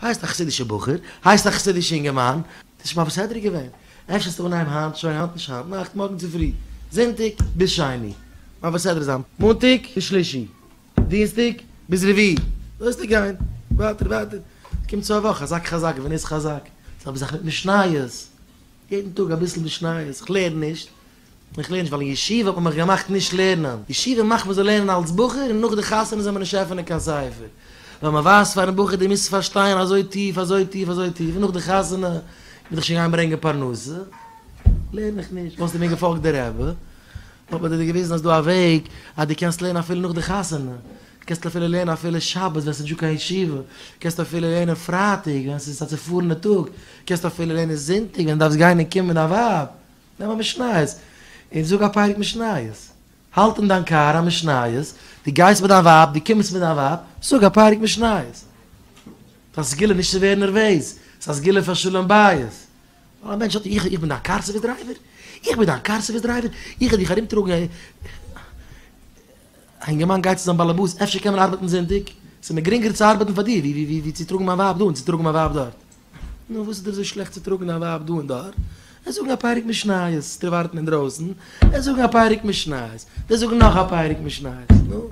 הייסט א חסידישע בחור, הייסט א חסידישע אינגערמאן, ס'איז שוין ביי בסדר געווען, אפשר ס'ווען אהיים היינט, שוין היינט נישט היינט נאכט, מארגן צופרי, זונטאג ביז שני, ביי בסדר זיין, מאנטאג ביז שלישי, דינסטאג ביז רביעי, לויזט ער גיין, ווייטער ווייטער, קומט צו א וואך, חזק חזק ונס חזק, זיך מיט משניות, יעדן טאג אביסל משניות, כ'לערן נישט, איך לערן נישט ווייל אין ישיבה האט מען מיך געמאכט נישט לערנען, ישיבה מאכט מיר זאל לערנען אלס בחור און נאך די חתונה זאל מען נישט עפענען קיין ספר, ווייל מען ווייזט פארן בחור דו מוזט פארשטיין אזוי טיף אזוי טיף אזוי טיף און נאך די חתונה מוז איך שוין גיין ברענגען פרנסה, לערן איך נישט, וואלסטו מיר געפאלגט די רבי וואלט מען דיר געוויזן אז דא א וועג אז דו קענסט לערנען אפילו נאך די חתונה, קענסט אפילו לערנען אפילו שבת ווען ס'איז נישטא קיין ישיבה, קענסט אפילו לערנען פרייטאג ווען ס'איז א צופארענע טאג, קענסט אפילו לערנען זונטאג ווען דו דארפסט גיין און קומען מיט דיין ווייב. נעם א משניות און זאג א פרק משניות, האלט אין דיין קאר א משניות, דו גייסט מיט דיין ווייב, דו קומסט מיט דיין ווייב, זאג א פרק משניות. ס'איז א סגולה נישט צו ווערן נערוועז, ס'איז א סגולה פאר שלום בית. ווייל א מענטש האט, איך, איך בין דיין קאר סערוויס דרייווער? איך בין דיין קאר סערוויס דרייווער? איך וועל דיך ארומטראגן? א אינגערמאן גייט צו זיין באלעבאס, אפשר קען מען ארבעטן זונטאג? ס'איז מיר גרינגער צו ארבעטן פאר דיר ווי צו טראגן מיין ווייב דא און צו טראגן מיין ווייב דארט. נו, וואס איז דיר אזוי שלעכט צו טראגן א ווייב דא און דארט? עס זאגן א פרק משניות, די ווארטן אינדרויסן, עס זאגן א פרק משניות, די זאגן נאך א פרק משניות, נו.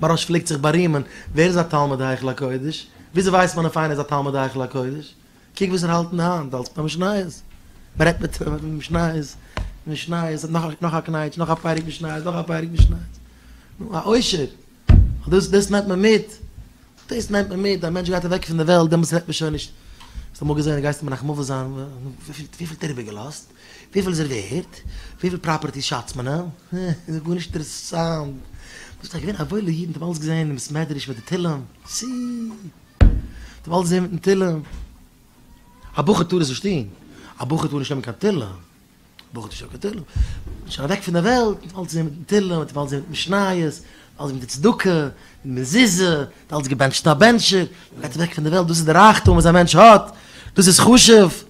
מרש פלעגט זיך בארימען, ווער איז א תלמיד היכל הקודש? וויאזוי ווייסט מען אויף איינער איז א תלמיד היכל הקודש? קוק וואס ער האלט אין די האנט, אלס פאר משניות. מען רעדט מיט אים וועגן משניות, משניות, נאך א קנייטש, נאך א פרק משניות, נאך א פרק משניות. נו, א עושר, ט, דאס, דאס נעמט מען מיט, דאס נעמט מען מיט, א מענטש גייט אוועק פון די וועלט, דעמאלטס רעדט מען שוין נישט, האסט אמאל געזען, גייסטו מנחמ'עווע זיין, וויפיל, וויפיל האט ער איבער געלאזט, וויפיל איז ער ווערט, וויפיל פראפערטיס שאצט מען אים, אה, גארנישט אינטערעסאנט, דאס איז געווען א וואוילע איד, מ'האט אים אלץ געזען אין בית מדרש מיט די תהלים, סי, מ'האט אים אלץ געזען מיטן תהלים, א בחור טאר עס נישט טון, א בחור טאר נישט נעמען קיין תהלים. ברוך דישא כתהלים, מ'איז שוין אוועק פון דער וועלט, מ'האט אלץ געזען מיטן תהלים, מ'האט אלץ געזען מיט משניות, אלץ מיט די צדקה, מיט מזוזה, מ'האט אלץ געבענטשט א בענטשער, מ'גייט אוועק פון דער וועלט, דאס איז די רייכטום וואס א מענטש האט, דאס איז חשוב.